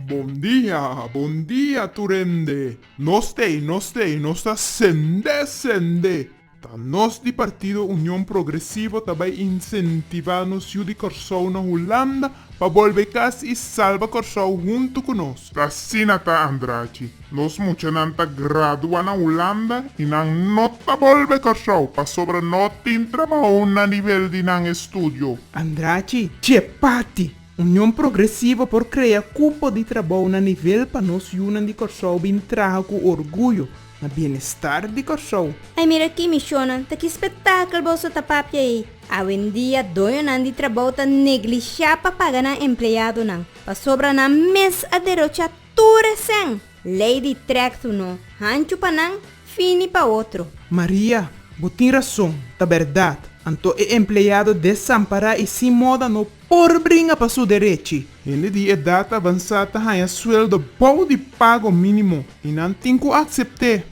Bon dia, bon dia tur hende. Nos tei, nos tei, nos ta sendé, sendé. Ta nos di Partido Union Progresivo ta bai insentivá nos yu di Kòrsou na Hulanda pa bolbe kas i salba Kòrsou huntu ku nos. Asina ta Andrachi. Nos muchanan ta gradua na Hulanda y nan no ta bolbe Curaçao pasobra no tin trabao na nivel di nan estudio. Andrachi, Dje parti, Union Progresivo por crea cupo di trabao na nivel pa nos yunan di Curaçao bin traha cu orguyo na bienestar di Curaçao. Ai mira aki mi shonan, ta ki spetakel boso ta papia ei. Awendia doñonan di trabao ta neglisha pa paga nan empleadonan, pasobra nan mes a derocha Tur resen, lei di trektu no hanchu pa nan, fini pa otro. Maria, Bo tin rason, ta bèrdat. Anto e empleado desampará i sin moda no por bringa pa su derechi. Hende di edat avansá ta haña sueldo bou di pago mínimo i nan tin ku aksept'é.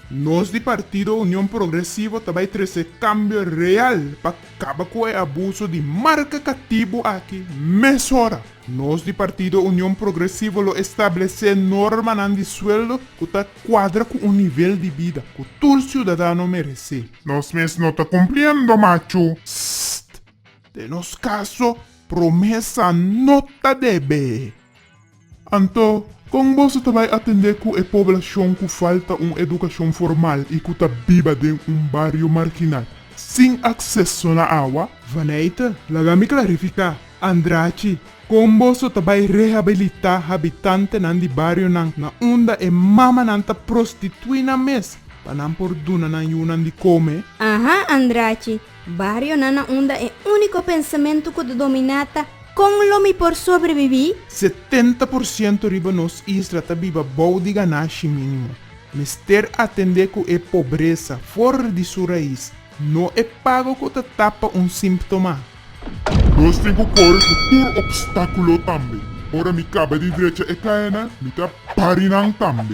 Nos di Partido Union Progresivo ta bai trese cambio real pa caba cu e abuso di marca catibu aki mesora. Nos di Partido Union Progresivo lo establece normanan di sueldo cu ta cuadra cu un nivel di bida cu tur ciudadano merece. Nos mes no ta cumpliendo machu. Pst! Den nos caso, promesa no ta debe. Anto, kon boso ta bai atendé ku e poblashon ku falta un edukashon formal i ku ta biba den un bario marginal sin akseso na awa? Vaneite, Laga mi klarifiká. Andrachi, Kon boso ta bai rehabilitá habitantenan di barionan na unda e mamanan ta prostituí nan mes pa nan por duna nan yunan di kome? Aha, Andrachi, Barionan na unda e úniko pensamentu ku ta dominá ta Kon lo mi por sobrebibí? Setenta por siento riba nos isla ta biba bou di ganashi mínimo. Mester atendé ku e pobresa for di su rais, no e pago ku ta tapa un símptoma. Nos tin ku kore ku tur opstákulo tambe. Ora mi kaba di drecha e kaena, mi ta pari nan tambe.